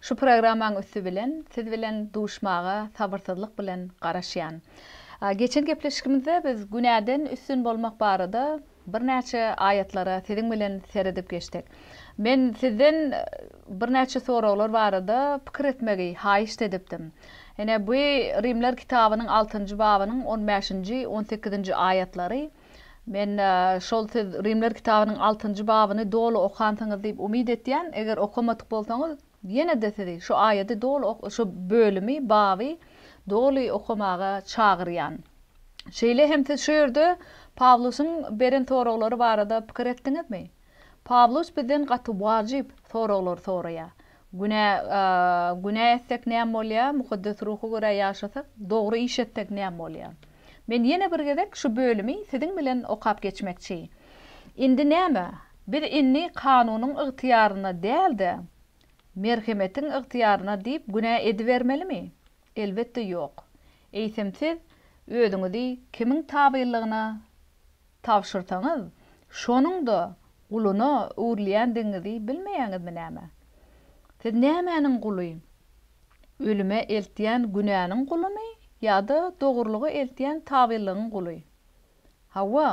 Şu programmaň üsti bilen siz bilen duşmaga sabyrsyzlyk bilen garaşýan. Geçen gepleşikimizde biz günäden üstün bolmak barada birnäçe aýatlara siziň bilen seredip geçdik. Men sizden birnäçe soraglar barada pikir etmegi haýyşt edipdim. Ine bu Rimler kitabynyň altynjy babynyň on bäşinji, on sekizinji aýatlary. Men şol siz Rimler kitabynyň altynjy babyny doly okansyňyz diýip umyt etýän, eger okamadyk bolsaňyz, ýene-de sizi şu aýady doly ok, şu bölümi, baby doly okamaga çagyrýan. Şeýle hem siz şu ýerde Pawlusyň beren soraglary barada pikir etdiňizmi? Pawlus bizden gaty wajyp soraglar soraýar. Günä günä etsek näme bolýa, Mukaddes Ruha görä ýaşasak, dogry iş etsek näme bolýa? Men ýene bir gezek şu bölümi siziň bilen okap geçmekçi. Indi näme? Biz indi kanunyň ygtyýaryna däl-de, merhemetiň ygtyýaryna diýip günä edibermelimi? Elbetde ýok. Eýsem siz özüňizi kimiň tabynlygyna tabşyrsaňyz, şonuň-da guluna öwrülýändigiňizi bilmeýäňizmi näme? Siz nämäniň guly? Ölüme eltýän günäniň gulumy ýa-da dogrulyga eltýän tabylygyň guly? Hawa,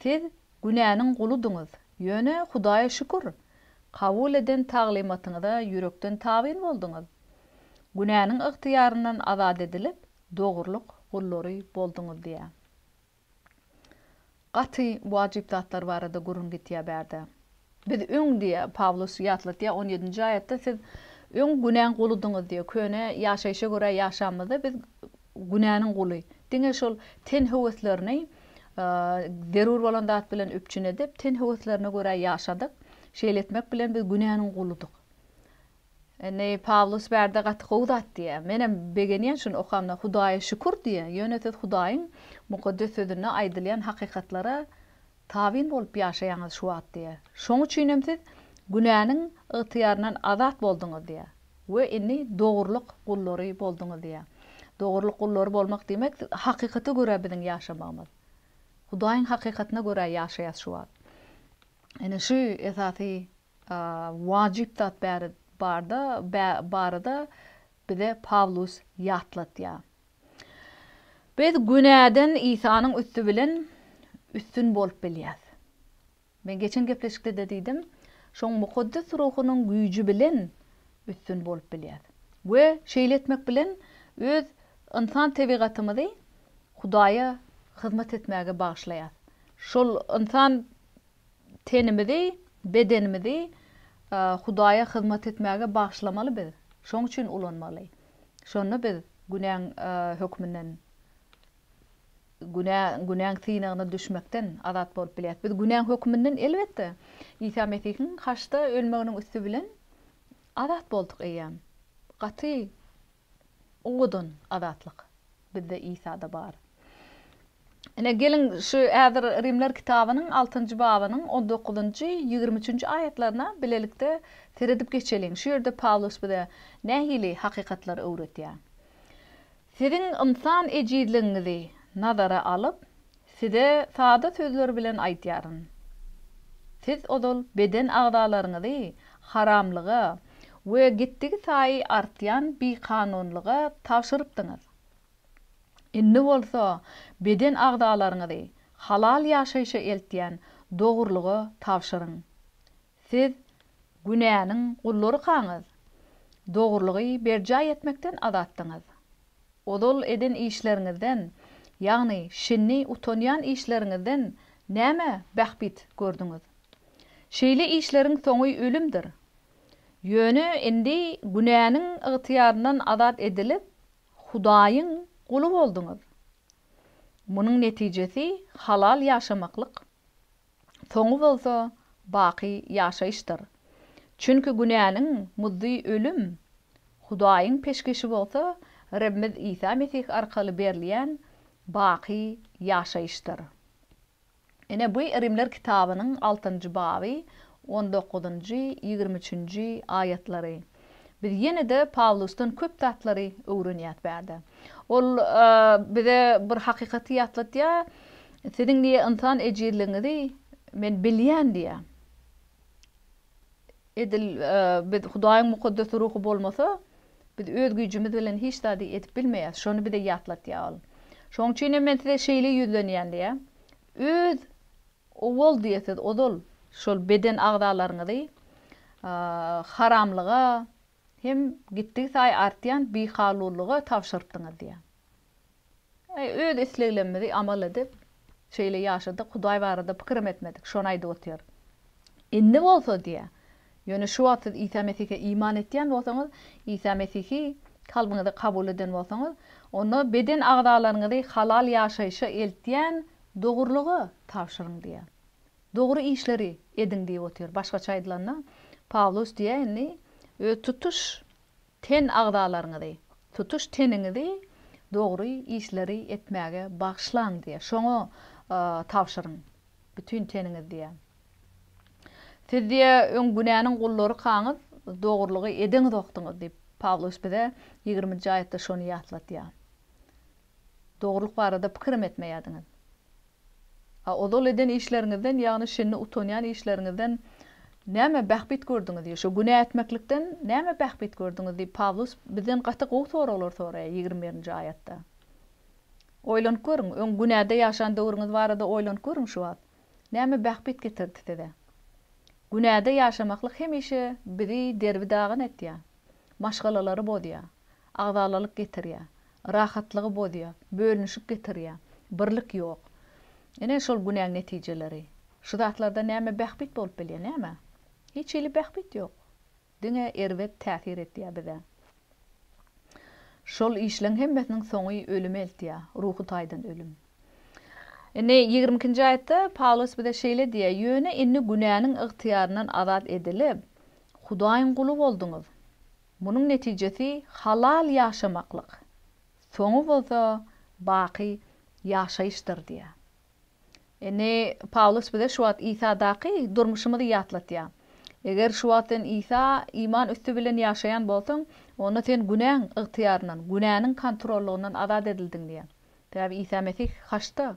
siz günäniň guludyňyz, ýöne Hudaýa şükür, kabul eden taglymatyňyza ýürekden tabyn bolduňyz. Günäniň ygtyýaryndan azat edilip, dogrulyk gullary bolduňyz diýýär. Gaty wajyp zatlar barada gürrüň gitýär bärde. Biz öň diýýär, Pawlus ýatlatýar on ýedinji aýatda, siz öň günäň guludyňyz diýýär. Köne ýaşaýşa görä ýaşanymyzda biz günäniň guly. Diňe şol ten höweslerini zerur bolan zat bilen üpjün edip, ten höweslerine görä ýaşadyk. Şeýle etmek bilen biz günäniň guludyk. Indi Pawlus bärde gaty gowy zat diýýär. Menem begenýän şuny okamda Hudaýa şükür diýýän. Ýöne siz Hudaýyň Mukaddes Sözünde aýdylýan hakykatlara tabyn bolup ýaşaýaňyz şu wagt diýýär. Şoň üçinem siz günäniň ygtyýaryndan azat bolduňyz diýýär we indi dogrulyk gullary bolduňyz diýýär. Dogrulyk gullary bolmak diýmek hakykata görä biziň ýaşamagymyz. Hudaýyň hakykatyna görä ýaşaýas şu wagt. Indi şu esasy wajyp zat barada barada bize Pawlus ýatlatýar. Biz günäden Isanyň üsti bilen üstün bolup bilýäs. Men geçen gepleşikde-de diýdim, şoň Mukaddes Ruhunyň güýji bilen üstün bolup bilýäs. We şeýle etmek bilen öz ynsan tebigatymyzy Hudaýa hyzmat etmäge bagyşlaýas. Şol ynsan Tenimizi, bedenimizi Hudaýa hyzmat etmäge bagyşlamaly biz. Şoň üçin ulanmaly. Şonda biz günäň hökmünden, günä, günäň synagyna düşmekden azat bolup bilýäris. Biz günäň hökmünden elbetde Isa Mesihiň haçda ölmeginiň üsti bilen azat bolduk eýýäm. Gaty Owadan azatlyk bizde Isada bar. Ine geliň şu häzir Rimler kitabynyň altynjy babynyň on dokuzynjy, ýigrimi üçünji aýatlaryna bilelikde seredip geçeliň. Şu ýerde Pawlus bize nähili hakykatlary öwretýär? Siziň ynsan ejizligiňizi nazara alyp, Size sada sözler bilen aýdýaryn. Siz ozal beden agzalaryňyzy haramlyga we gitdigisaýy artýan bikanunlyga tabşyrypdyňyz. Indi bolsa beden agzalaryňyzy halal ýaşaýşa eltýän dogrulyga tabşyryň. Siz günäniň gullurykaňyz, dogrulygy berjaý etmekden azatdyňyz. Ozal eden işleriňizden, ýagny şindi utanýan işleriňizden näme bähbit gördüňiz? Şeýle işleriň soňy ölümdir. Ýöne indi günäniň ygtyýaryndan azat edilip, Hudaýyň guly bolduňyz. Munuň netijesi halal ýaşamaklyk. soňy bolsa baky ýaşaýyşdyr. Çünki günäniň muzdy ölüm, Hudaýyň peşgeşi bolsa Rebimiz Isa Mesih arkaly berilýän baky ýaşaýyşdyr. Ine, bu Rimler kitabynyň altynjy baby, on dokuzynjy, ýigrimi üçünji aýatlary. Biz ýene-de Pawlusdan köp zatlary öwrenýäs bärde. Ol bize bir hakykaty ýatladýar, Siziň diýýär, ynsan ejizligiňizi Men bilýän diýýär. Edil biz Hudaýyň Mukaddes Ruhy bolmasa, biz öz güýjümiz bilen hiç zady edip bilmeýäs. Şony bize ýatladýar ol. Şonuň üçin hem men size şeýle ýüzlenýän diýýär. Öz. Owal diýe siz ozal şol beden agzalaryňyzy haramlyga hem gitdigisaýy artýan bihalulyga tabşyrypdyňyz diýýär. Eý, öz isleglemmizi amal edip, şeýle ýaşadyk, Hudaý barada pikirim etmedik, şony aýdyp otyr. Indi bolsa diýýär, ýöne şu wagt siz Isa Mesihe iman etýän bolsaňyz, Isa Mesihi kalbyňyza kabul eden bolsaňyz, onda beden agzalaryňyzy halal ýaşaýşa eltýän Dogrulyga tabşyryň diýýär. Dogry işleri ediň diýip otyr. Başgaça aýdylanda, Pawlus diýýär, indi öz tutuş ten agzalaryňyzy, tutuş teniňizi dogry işleri etmäge bagyşlaň diýýär. Şoňa tabşyryň, bütin teniňiz diýýär. Siz diýýär, öň günäniň gullarykaňyz, dogrulygy edeňzokdyňyz diýip, Pawlus bize ýigriminji aýatda şony ýatlatýar. Dogrulyk barada pikirim etmeýärdiňiz. A ozal eden işleriňizden, ýagny şindi utanýan işleriňizden näme bähbit gördüňiz diýýär. Şo günä etmeklikden näme bähbit gördüňiz diýip, Pawlus bizden gaty gowy soraglar soraýar ýigrimi birinji aýatda. Oýlanyp görüň, öň günäde ýaşan döwrüňiz barada oýlanyp görüň şu wagt. Näme bähbit getirdi size? Günäde ýaşamaklyk hemişe bizi derbi-dagyn etýär. maşgalalary bozýar, agzalalyk getirýär, rahatlygy bozýar, bölünişik getirýär, birlik ýok. Ine, şol günäň netijeleri. Şu zatlardan näme bähbit bolup bilýär, näme? Hiç hili bähbit ýok. Diňe erbet täsir etýär bize. Şol işleň hemmesiniň soňy ölüme eltýär, ruhy taýdan ölüm. Indi, ýigrimi ikinji aýatda Pawlus bize şeýle diýýär, Ýöne indi günäniň ygtyýaryndan azat edilip, Hudaýyň guly bolduňyz. Munuň netijesi halal ýaşamaklyk, soňy bolsa baky ýaşaýyşdyr diýýär. Indi, Pawlus bize şu wagt Isadaky durmuşymyzy ýatlatýar. Eger şu wagt sen Isa iman üsti bilen ýaşaýan bolsaň, onda sen günäň ygtyýaryndan, günäniň kontrollygyndan azat edildiň diýýär. Sebäbi Isa Mesih haçda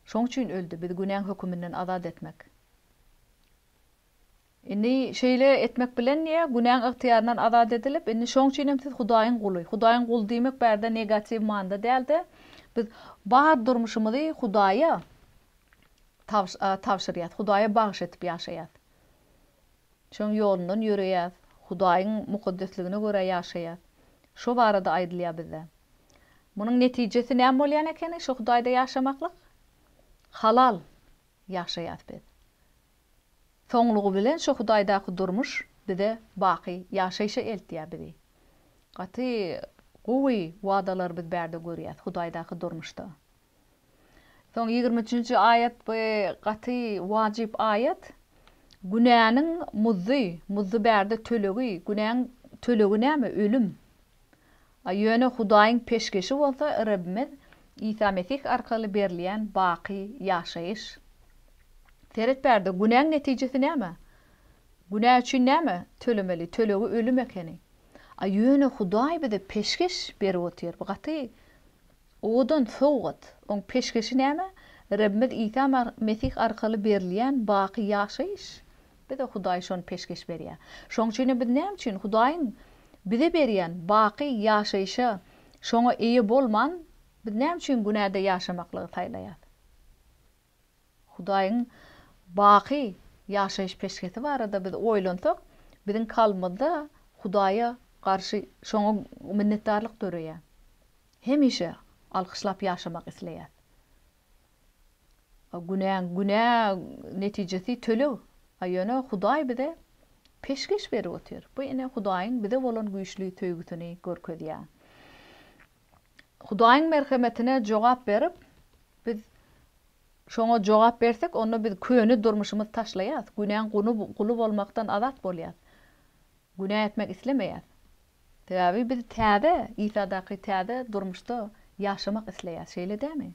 şoň üçin öldi, bizi günäň höküminden azat etmek. Indi şeýle etmek bilen diýýär, günäň ygtyýaryndan azat edilip, indi şoň üçin hem siz Hudaýyň guly. Hudaýyň guly diýmek bärde negatiw manyda däl-de, biz bar durmuşymyzy Hudaýa tabşyrýas, Hudaýa bagyş edip ýaşaýas. Şoň ýolundan ýöreýäs, Hudaýyň mukaddesligine görä ýaşaýas. Şo barada aýdylýar bizde. Munuň netijesi näme bolýan ekeni şo Hudaýda ýaşamaklyk? Halal ýaşaýas biz. Soňlugy bilen şo Hudaýdaky durmuş bize baky ýaşaýşa eltýär bizi. Gaty gowy wadalar biz bärde görýäs Hudaýdaky durmuşda. Soň ýigrimi üçünji aýat bu gaty wajyp aýat. Günäniň muzy, muzy bärde tölegi, günäň tölegi näme ölüm. A ýöne Hudaýyň peşgeşi bolsa Rabbimiz Isa Mesih arkaly berilýän baky ýaşaýyş. Seret bärde günäň netijesi näme? Günä üçin näme tölemeli, tölegi ölüm ekeni. A ýöne Hudaý bize peşgeş berip otyr. Bu gaty Owadan sowgat! Oň peşgeşi näme? Rebbimiz Isa Mesih arkaly berilýän baky ýaşaýyş. Bize Hudaý şony peşgeş berýär. Şoň üçinem biz näme üçin Hudaýyň bize berýän baky ýaşaýşa şoňa eýe bolman, biz näme üçin günäde ýaşamaklygy saýlaýas? Hudaýyň baky ýaşaýyş peşgesi barada biz oýlansak, biziň kalbymyzda Hudaýa garşy şoňa minnetdarlyk döreýär. Hemişe alkyşlap ýaşamak isleýäs. A günäň günä netijesi töleg. A ýöne Hudaý bize peşgeş berip otyr. Bu ine Hudaýyň bize bolan güýçli söýgüsini görkezýär. Hudaýyň merhemetine jogap berip, biz Şoňa jogap bersek, onda biz köne durmuşymyzy taşlaýarys, günäň guly bolmakdan azat bolýarys. Günä etmek islemeýäris. Sebäbi biz täze, Isadaky täze durmuşda ýaşamak isleýäris, şeýle dälmi?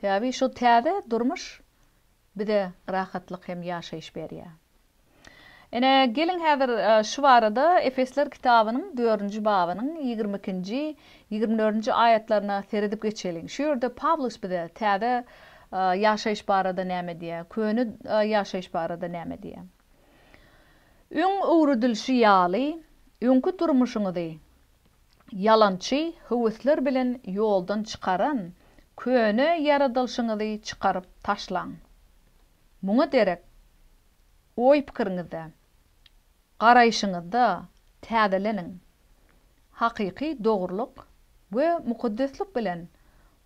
Sebäbi şu täze durmuş bize rahatlyk hem ýaşaýyş berýär. Ine, geliň häzir şu barada Efesler kitabynyň dördünji babynyň ýigrimi ikinji, ýigrimi dördünji aýatlaryna seredip geçeliň. Şu ýerde Pawlus bize täze ýaşaýyş barada näme diýýär, köne ýaşaýyş barada näme diýýär? Öň öwredilişi ýaly, öňki durmuşyňyzy ýalançy höwesler bilen ýoldan çykaran köne ýaradylyşyňyzy çykaryp taşlaň. Muňa derek, oý-pikiriňizde, garaýşyňyzda täzeleniň. Hakyky dogrulyk we mukaddeslik bilen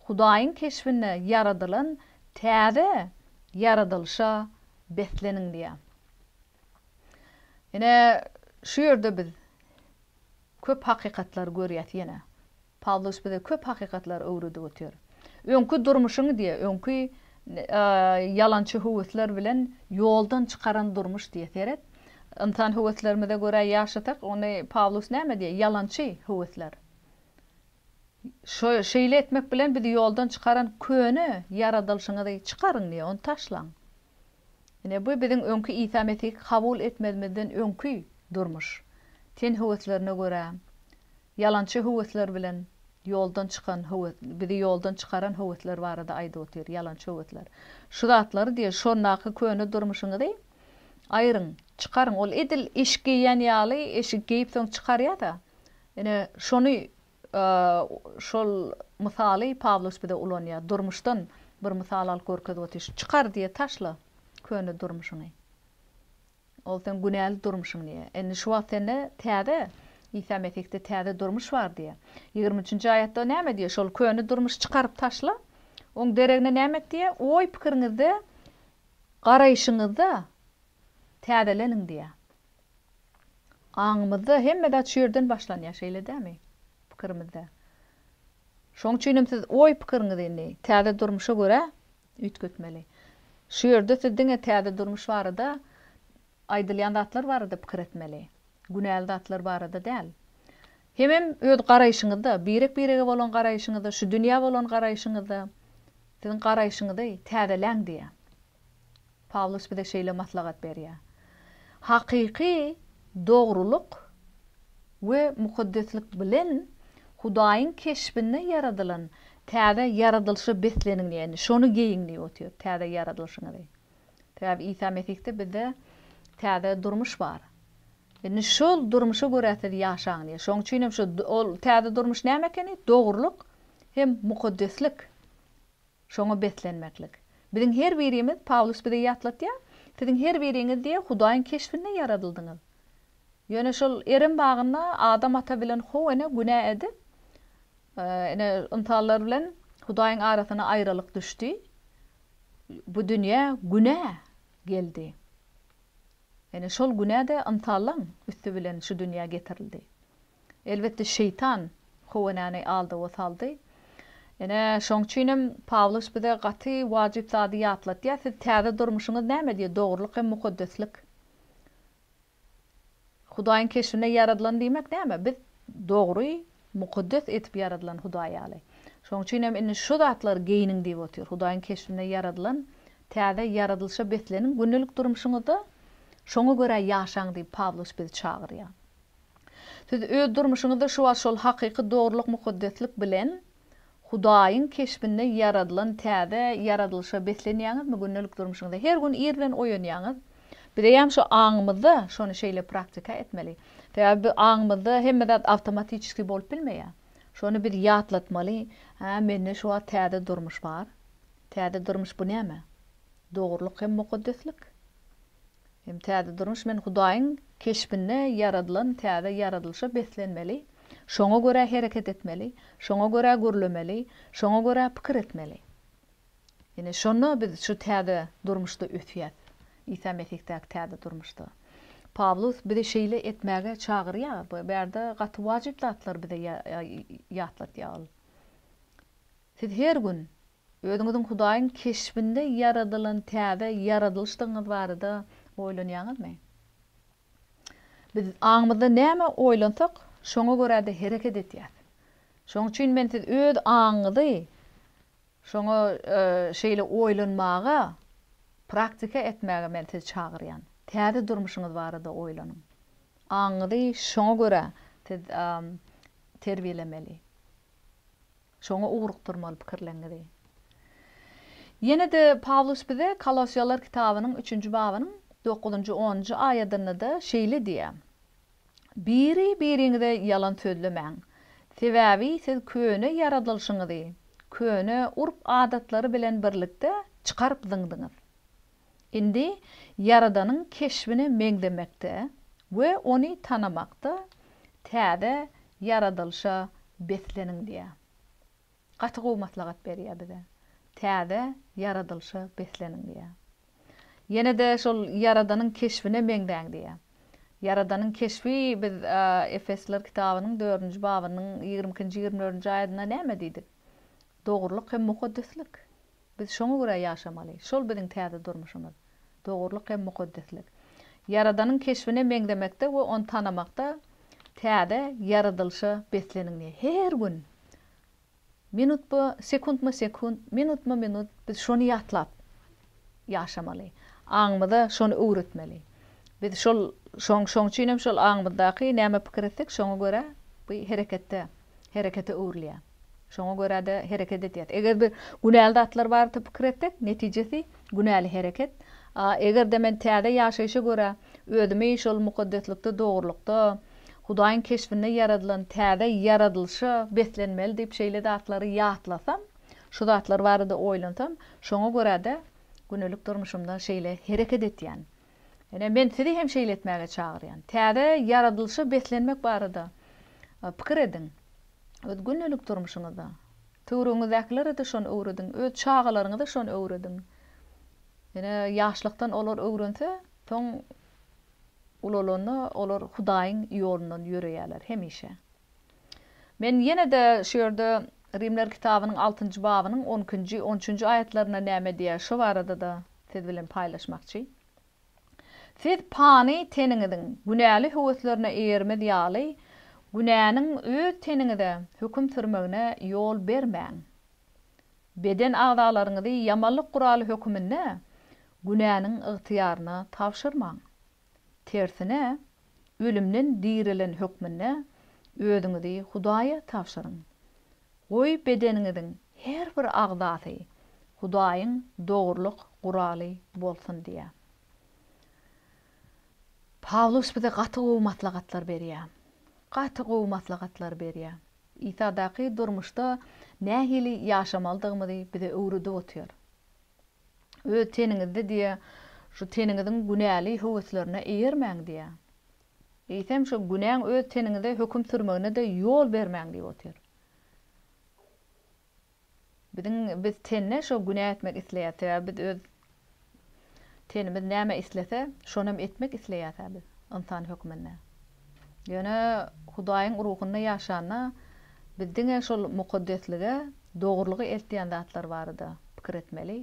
Hudaýyň keşbinde ýaradylan täze ýaradylyşa besleniň diýýär. Ine, şu ýerde biz köp hakykatlary görýäs ýene. Pawlus bize köp hakykatlary öwredip otyr. Öňki durmuşyň diýe, öňki ýalançy höwesler bilen ýoldan çykaran durmuş diýe seret. Ynsan höweslerimize görä ýaşasak, onda Pawlus näme diýe, ýalançy höwesler. Şeýle etmek bilen bizi ýoldan çykaran köne ýaradylyşyňyzy çykaryň diýe, ony taşlaň. Ine, bu biziň öňki Isa Mesihi kabul etmezimizden öňki durmuş. Ten höweslerine görä, ýalançy höwesler bilen ýoldan çykan höwes, bizi ýoldan çykaran höwesler barada aýdyp otyr, ýalançy höwesler. Şu zatlary diýer, şondaky köne durmuşyňyzy aýryň, çykaryň. Ol edil eşik geýýän ýaly, eşigi geýip soň çykarýa-da. Ine, şony Şol mysaly Pawlus bize ulanýar. Durmuşdan bir mysal alyp görkezip otyr. Çykar diýýär, taşla köne durmuşyňy. Ol seň günäli durmuşyň diýýär. Indi şu wagt sende täze, Isa Mesihde täze durmuş bar diýýär. Ýigrimi üçünji aýatda näme diýýär? Şol köne durmuşy çykaryp taşla. Oň deregine näme et diýýär? Oý-pikiriňizde, garaýşyňyzda täzeleniň diýýär. Aňymyzda hemme zat şu ýerden başlanýar, şeýle dämi? Pikirimizde. Şoň üçin hem siz oý-pikiriňizi indi täze durmuşa görä üýtgetmeli. Şu ýerde siz diňe täze durmuş barada aýdylýan zatlar barada pikir etmeli. Günäli zatlar barada däl. Hemem öz garaýşyňyzda, birek-birege bolan garaýşyňyzda, şu dünýä bolan garaýşyňyzda, siziň garaýşyňyzy täzeläň diýýär. Pawlus bize şeýle maslahat berýär, Hakyky dogrulyk we mukaddeslik bilen Hudaýyň keşbinde ýaradylan täze ýaradylyşa besleniň diýýär, ýagny şony geýiň diýip otyr, täze ýaradylyşyňyzy. Sebäbi Isa Mesihde bizde täze durmuş bar. Indi şol durmuşa görä siz ýaşaň diýýär. Şonuň üçin hem şu ol täze durmuş näme ekeni? Dogrulyk hem mukaddeslik. Şoňa beslenmeklik. Biziň her birimiz, Pawlus bize ýatlatýar, Siziň her biriňiz diýe Hudaýyň keşbinde ýaradyldyňyz. Ýöne şol Erem bagynda Adam ata bilen How ene günä edip, ine, ynsanlar bilen Hudaýyň arasyna aýralyk düşdi. Bu dünýä günä geldi. Ine, şol günä-de ynsanlaň üsti bilen şu dünýä getirildi. Elbetde, Şeýtan Howenäni aldawa saldy. Ine, şoň üçin hem Pawlus bize gaty wajyp zady ýatlatýar, Siz täze durmuşyňyz näme diýýär? Dogrulyk hem mukaddeslik. Hudaýyň keşbine ýaradylan diýmek näme? Biz dogry, mukaddes edip ýaradylan Hudaý ýaly. Şoň üçin hem indi şu zatlary geýiniň diýip otyr. Hudaýyň keşbine ýaradylan täze ýaradylyşa besleniň, gündelik durmuşyňyzda şoňa görä ýaşaň diýip Pawlus bizi çagyrýar. Siz öz durmuşyňyzda şu wagt şol hakyky dogrulyk mukaddeslik bilen Hudaýyň keşbinde ýaradylan täze ýaradylyşa beslenýäňizmi gündelik durmuşyňyzda? Her gün ir bilen oýanýaňyz. Bizeýem şu aňymyzda şony şeýle praktika etmeli. Sebäbi bu aňymyzda hemme zat awtomatiçeskiý bolup bilmeýär. Şony biz ýatlatmaly, Hä, mende şu wagt täze durmuş bar. Täze durmuş bu näme? Dogrulyk hem mukaddeslik. Hem täze durmuş men Hudaýyň keşbinde ýaradylan täze ýaradylyşa beslenmeli, şoňa görä hereket etmeli, şoňa görä gürlemeli, şoňa görä pikir etmeli. Ine, şonda biz şu täze durmuşda ösýäs, Isa Mesihdäki täze durmuşda. Pawlus bizi şeýle etmäge çagyrýar, bu ýerde gaty wajyp zatlary bize ýatlatýar ol. Siz her gün Özüňiziň Hudaýyň keşbinde ýaradylan täze ýaradylyşdygyňyz barada oýlanýaňyzmy? Biz aňymyzda näme oýlansak, şoňa görä-de hereket edýäris. Şonuň üçin men siz öz aňyňyzy şoňa şeýle oýlanmaga, praktika etmäge men sizi çagyrýan. Täze durmuşyňyz barada oýlanyň. Aňyňyzy şoňa görä siz terbiýelemeli. Şoňa ugrukdyrmaly pikirleňňizi. Ýene-de Pawlus bize Kolossiýalar kitabynyň üçünji babynyň dokuzynjy, onunjy aýadynda-da şeýle diýýär, Biri-biriňize ýalan sözlemäň, sebäbi siz köne ýaradylyşyňyzy köne urp-adatlary bilen birlikde çykaryp zyňdyňyz. Indi Ýaradanyň keşbine meňzemekde we ony tanamakda täze ýaradylyşa besleniň diýýär. Gaty gowy maslahat berýär bize. Täze ýaradylyşa besleniň diýýär. Ýene-de şol Ýaradanyň keşbine meňzäň diýýär. Ýaradanyň keşbi biz Efesliler kitabynyň dördünji babynyň ýigrimi ikinji, ýigrimi dördünji aýadynda näme diýdik? Dogrulyk hem mukaddeslik. Biz şoňa görä ýaşamaly. Şol biziň täze durmuşymyz. Dogrulyk hem mukaddeslik. Ýaradanyň keşbine meňzemekde we ony tanamakda täze ýaradylyşa besleniň diýýär. Her gün, minutma-sekuntma-sekunt, minutma-minut biz şony ýatlap, ýaşamaly. Aňymyza şony öwretmeli. Biz şol şoň şoň üçin hem şol aňymyzdaky näme pikir etsek şoňa görä bu hereketde herekete öwrülýär. Şoňa görä-de hereket edýäs. Eger bir günäli zatlar barada pikir etsek netijesi günäli hereket. A eger-de men täze ýaşaýşa görä özümi şol mukaddeslikde dogrulykda Hudaýyň keşbinde ýaradylan täze ýaradylyşa beslenmeli diýip şeýle zatlary ýatlasam, Şu zatlar barada oýlansam, şoňa görä-de gündelik durmuşymda şeýle hereket etýän. Ine, men sizi hem şeýle etmäge çagyrýan. Täze ýaradylyşa beslenmek barada pikir ediň. Öz gündelik durmuşyňyzda. Töweregiňizdäkilere-de şony öwrediň. Öz çagalaryňyza şony öwrediň. Ine, ýaşlykdan olar öwrense, soň ulalanda olar Hudaýyň ýolundan ýöreýärler hemişe. Men ýene-de şu ýerde Rimler kitabynyň altynjy babynyň on ikinji, on üçünji aýatlarynda näme diýýär, şo barada-da siz bilen paýlaşmakçy. Siz pany teniňiziň günäli höweslerine eýermez ýaly, günäniň öz teniňize höküm sürmegine ýol bermäň. Beden agzalaryňyzy ýamanlyk guraly höküminde günäniň ygtyýaryna tabşyrmaň. Tersine, ölümden dirilen hökmünde özüňizi Hudaýa tabşyryň. Goý, bedeniňiziň her bir agzasy Hudaýyň dogrulyk guraly bolsun diýýär. Pawlus bize gaty gowy maslahatlar berýär. Gaty gowy maslahatlar berýär. Isadaky durmuşda nähili ýaşamalydygymyzy bize öwredip otyr. Öz teniňizde diýe şu teniňiziň günäli höweslerine eýermäň diýe. Eýsem şu günäň öz teniňize höküm sürmegine-de ýol bermäň diýip otyr. Biziň biz tende şo günä etmek isleýäs, sebäbi biz öz tenimiz näme islese, şonam etmek isleýäs-ä biz, ynsan hökmünde. Ýöne Hudaýyň ruhunda ýaşanda, biz diňe şol mukaddeslige, dogrulyga eltýän zatlar barada pikir etmeli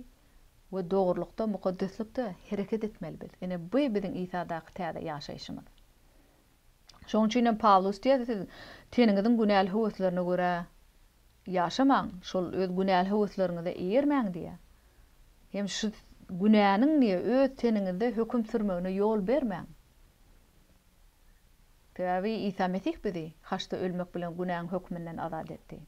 we dogrulykda, mukaddeslikde hereket etmeli biz. Ine, bu biziň Isadaky täze ýaşaýşymyz. Şonuň üçin hem Pawlus diýýär, Siz teniňiziň günäli höweslerine görä ýaşamaň, şol öz günäli höwesleriňize eýermäň diýýär. Hem şu günäniň diýýär, öz teniňizde höküm sürmegine ýol bermäň. Sebäbi Isa Mesih bizi haçda ölmek bilen günäň hökmünden azat etdi.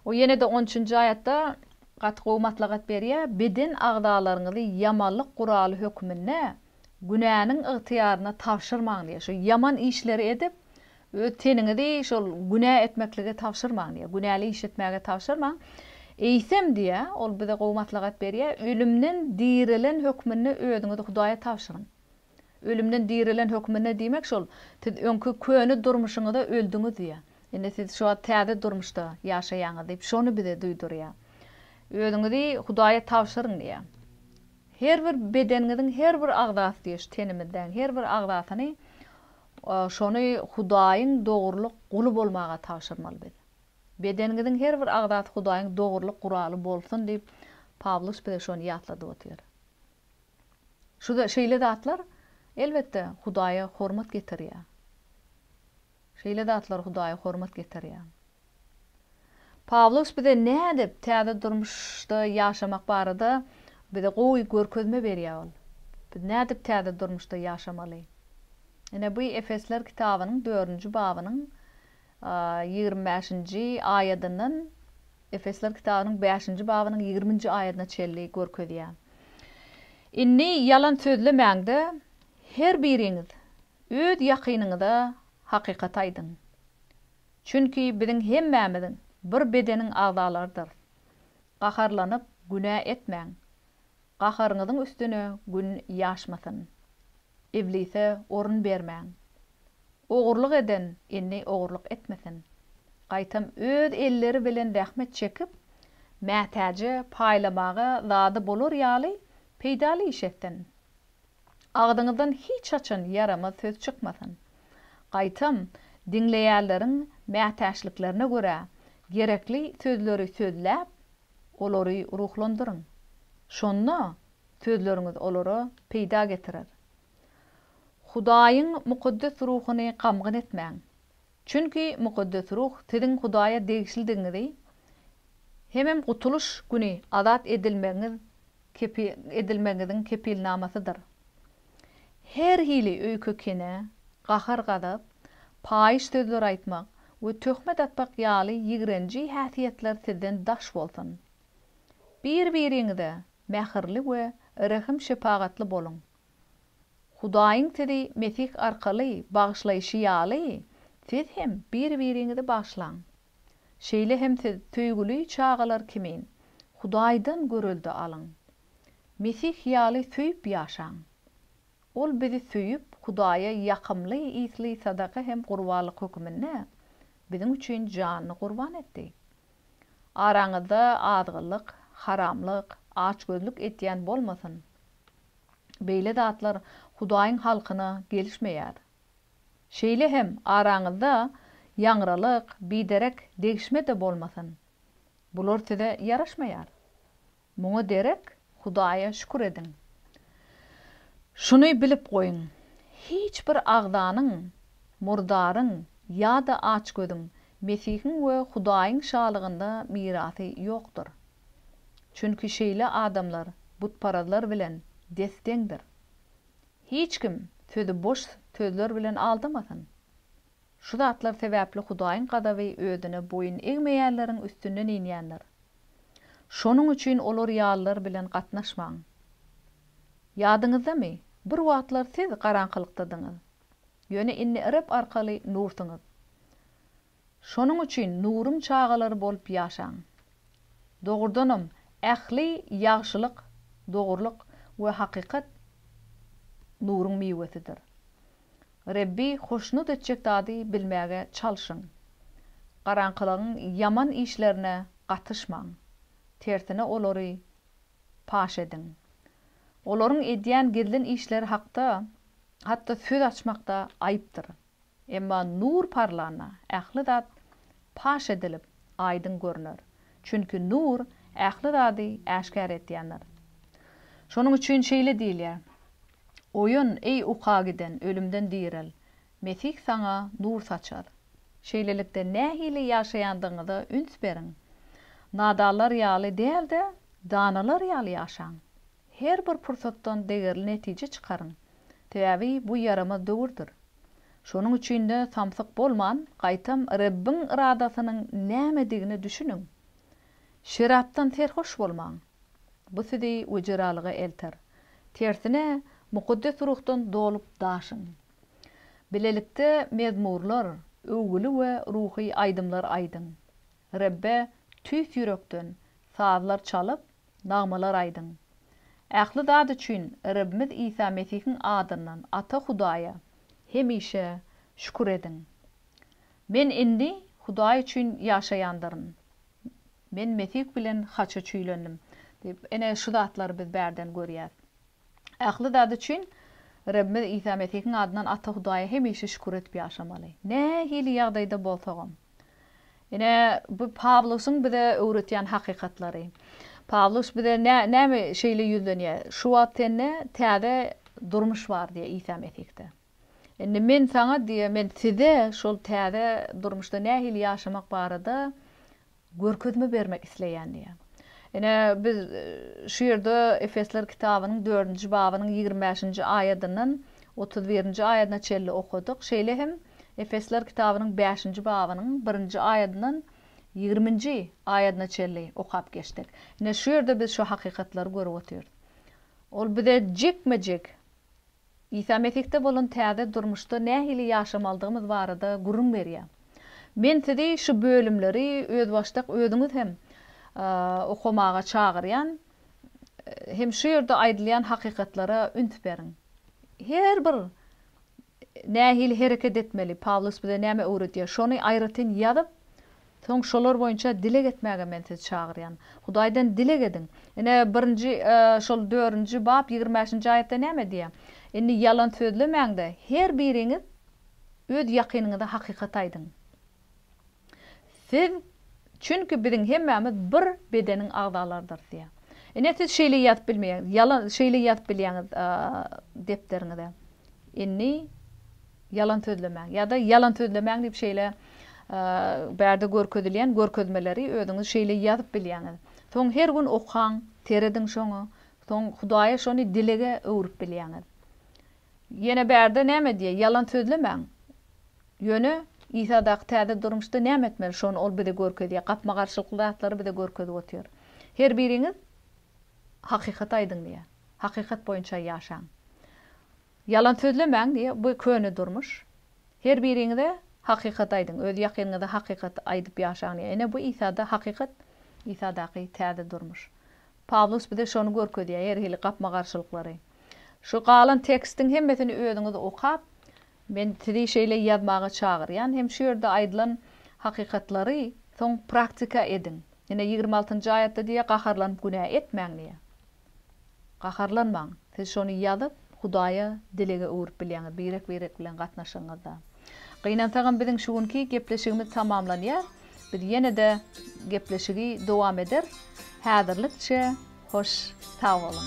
O ýene-de on üçünji aýatda gaty gowy maslahat berýär, Beden agzalaryňyzy ýamanlyk guraly hökmünde günäniň ygtyýaryna tabşyrmaň diýýär. Şu ýaman işleri edip, öz teniňizi şol günä etmeklige tabşyrmaň diýýär. Günäli iş etmäge tabşyrmaň. Eýsem diýýär, ol bize gowy maslahat berýär, ölümden dirilen hökmünde özüňizi Hudaýa tabşyryň. Ölümden direlen hökmünde diýmek şol, siz öňki köne durmuşyňyza öldüňiz diýýär. Indi siz şu wagt täze durmuşda ýaşaýaňyz diýip, şony bize duýdurýar. Özüňizi Hudaýa tabşyryň diýýär. Her bir bedeniňiziň her bir agzasy diýýär, şu tenimizdäň her bir agzasyny şony Hudaýyň dogrulyk guly bolmaga tabşyrmaly biz. Bedeniňiziň her bir agzasy Hudaýyň dogrulyk guraly bolsun diýip, Pawlus bize şony ýatladyp otyr. Şu şeýle zatlar, elbetde, Hudaýa hormat getirýär. Şeýle zatlar Hudaýa hormat getirýär. Pawlus bize nädip täze durmuşda ýaşamak barada bize gowy görkezme berýär ol. Biz nädip täze durmuşda ýaşamaly? Ine, bu Efesler kitabynyň dördünji babynyň ýigrimi bäşinji aýadyndan Efesler kitabynyň bäşinji babynyň ýigriminji aýadyna çenli görkezýär. Indi ýalan sözlemäň-de, her biriňiz öz ýakynyňyza hakykaty aýdyň. Çünki biziň hemmämiziň bir bedeniň agzalarydyr. Gaharlanyp, günä etmäň. Gaharyňyzyň üstüne gün ýaşmasyn. Iblise orun bermäň. Ogurlyk eden indi ogurlyk etmesin. Gaýtam öz elleri bilen zähmet çekip, mätäje paýlamaga zady bolar ýaly peýdaly iş etsin. Agzyňyzdan hiç haçan ýaramaz söz çykmasyn. Gaýtam, diňleýänleriň mätäçliklerine görä, gerekli sözleri sözläp, Olary ruhlandyryň. Şonda sözleriňiz olara peýda getirer. Hudaýyň mukaddes ruhuny gamgyn etmäň. Çünki mukaddes ruh siziň Hudaýa degişlidigiňizi hemem gutulyş güni azat edilmegiňiz edilmegiňiziň kepilnamasydyr. Her hili öýke-kine, gahar-gazap, paýyş sözler aýtmak we töhmet atmak ýaly ýigrenji häsiýetler sizden daş bolsun. Bir-biriňize mähirli we rehim-şepagatly boluň. Hudaýyň sizi Mesih arkaly bagyşlaýşy ýaly, siz hem bir-biriňizi bagyşlaň. Şeýle hem siz söýgüli çagalar kimin, Hudaýdan görelde alyň. Mesih ýaly söýüp ýaşaň. Ol bizi söýüp, Hudaýa ýakymly ysly sadaka hem gurbanlyk höküminde biziň üçin janyny gurban etdi. Araňyzda azgynlyk, haramlyk, açgözlük etýän bolmasyn. Beýle zatlar Hudaýyň halkyna gelişmeýär. Şeýle hem araňyzda ýaňralyk, biderek degişme-de bolmasyn. Bular size ýaraşmaýar. Muňa derek Hudaýa şükür ediň. Şuny bilip goýuň, hiç bir agzanyň, murdaryň ýa-da açgözüň Mesihiň we Hudaýyň Şalygynda mirasy ýokdur. Çünki şeýle adamlar butparazlar bilen des-deňdir. Hiç kim sizi boş sözler bilen aldamasyn. Şu zatlar sebäpli Hudaýyň gazaby özüne boýun egmeýänleriň üstünden inýändir. Şonuň üçin olar ýalylar bilen gatnaşmaň. Ýadyňyzdamy, bir wagtlar siz garaňkylykdadyňyz, ýöne indi Reb arkaly nursyňyz. Şonuň üçin nuruň çagalary bolup ýaşaň. Dogrudanam, ähli ýagşylyk, dogrulyk we hakykat nuruň miwesidir. Rebbi hoşnut etjek zady bilmäge çalşyň. Garaňkylygyň ýaman işlerine gatyşmaň, tersine olary paş ediň. Olaryň edýän gizlin işleri hakda hatda söz açmak-da aýypdyr. Emma nur parlana, ähli zat paş edilip, aýdyň görüner. Çünki nur ähli zady äşgär etýändir. Şonuň üçin şeýle diýilýär, Oýan, eý, uka giden, ölümden direl! Mesih saňa nur saçar. Şeýlelikde, nähili ýaşaýandygyňyza üns beriň. Nadanlar ýaly däl-de, danalar ýaly ýaşaň. Her bir pursatdan degerli netije çykaryň, sebäbi bu ýaramaz döwürdir. Şonuň üçin-de samsyk bolman, gaýtam Rebbiň yradasynyň nämedigine düşüniň. Şerapdan serhoş bolmaň. Bu sizi wejeralyga elter. Tersine, Mukaddes Ruhdan dolup-daşyň. Bilelikde mezmurlar, öwgüli we ruhy aýdymlar aýdyň. Rebbe tüýs ýürekden sazlar çalyp, Nagmalar aýdyň. Ähli zat üçin Rebimiz Isa Mesihiň adyndan Ata Hudaýa hemişe şükür ediň. Men indi Hudaý üçin ýaşaýandyryn. Men Mesih bilen haça çüýlendim. Diýip, ine, şu zatlary biz bärden görýäs. Ähli zat üçin Rebimiz Isa Mesihiň adyndan Ata Hudaýa hemişe şükür edip ýaşamaly. Nähili ýagdaýda bolsagam. Ine, bu Pawlusyň bize öwretýän hakykatlary. Pawlus bize nä, näme şeýle ýüzlenýär? Şu wagt sende täze durmuş bar diýýär Isa Mesihde. Indi men saňa diýýär, men size şol täze durmuşda nähili ýaşamak barada Görkezme bermek isleýän diýýär. Ine, biz şu ýerde Efesler kitabynyň dördünji babynyň ýigrimi bäşinji aýadyndan otuz birinji aýadyna çenli okadyk. Şeýle hem Efesler kitabynyň bäşinji babynyň birinji aýadyndan ýigriminji aýadyna çenli okap geçdik. Ine, şu ýerde biz şu hakykatlary görüp otyrys. Ol bize jikme-jik. Isa Mesihde bolan täze durmuşda nähili ýaşamalydygymyz barada gürrüň berýär. Men sizi şu bölümleri özbaşdak özüňiz hem okamaga çagyrýan hem şu ýerde aýdylýan hakykatlara üns beriň. Her bir nähili hereket etmeli, Pawlus bize näme öwredýär, şony aýratyn ýazyp, Soň şolar boýunça dileg etmäge men sizi çagyrýan. Hudaýdan dileg ediň. Ine, birinji, şol dördünji bap ýigrimi bäşinji aýatda näme diýýär? Indi ýalan sözlemäň-de, her biriňiz öz ýakynyňyza hakykaty aýdyň. Siz, çünki biziň hemmämiz bir bedeniň agzalarydyrys diýýär. Ine, siz şeýle ýazyp bilmeýäňiz, ýalan, şeýle ýazyp bilýäňiz depderiňize. Indi. Ýalan sözlemäň ýa-da ýalan sözlemäň diýip şeýle bärde görkezilýän görkezmeleri özüňiz şeýle ýazyp bilýäňiz. Soň her gün okaň, serediň şoňa, soň Hudaýa şony dilege öwrüp bilýäňiz. Ýene bärde näme diýýär? Ýalan sözlemäň. Ýöne Isa daky täze durmuşda näme etmeli? Şony ol bize görkezýär. Gapma-garşylykly zatlary bize görkezip otyr. Her biriňiz hakykaty aýdyň diýýär. Hakykat boýunça ýaşaň. Ýalan sözlemäň diýýär, bu köne durmuş. Her biriňize hakykat aýdyň, öz ýakynyňyza hakykat aýdyp ýaşaň diýýär. Ine bu Isada hakykat, Isadaky täze durmuş. Pawlus bize şony görkezýär, her hili gapma-garşylyklary. Şu galan tekstiň hemmesini özüňiz okap, men sizi şeýle ýazmaga çagyrýan hem şu ýerde aýdylan hakykatlary soň praktika ediň. Ine ýigrimi altynjy aýatda diýýär, gaharlanyp günä etmäň diýýär. Gaharlanmaň, siz şony ýazyp, Hudaýa dilege öwrüp bilýäňiz, birek-birek bilen gatnaşygyňyzda. Gynansagam biziň şu günki gepleşigimiz tamamlanýar. Biz ýene-de gepleşigi dowam eder. Häzirlikçe hoş sag boluň.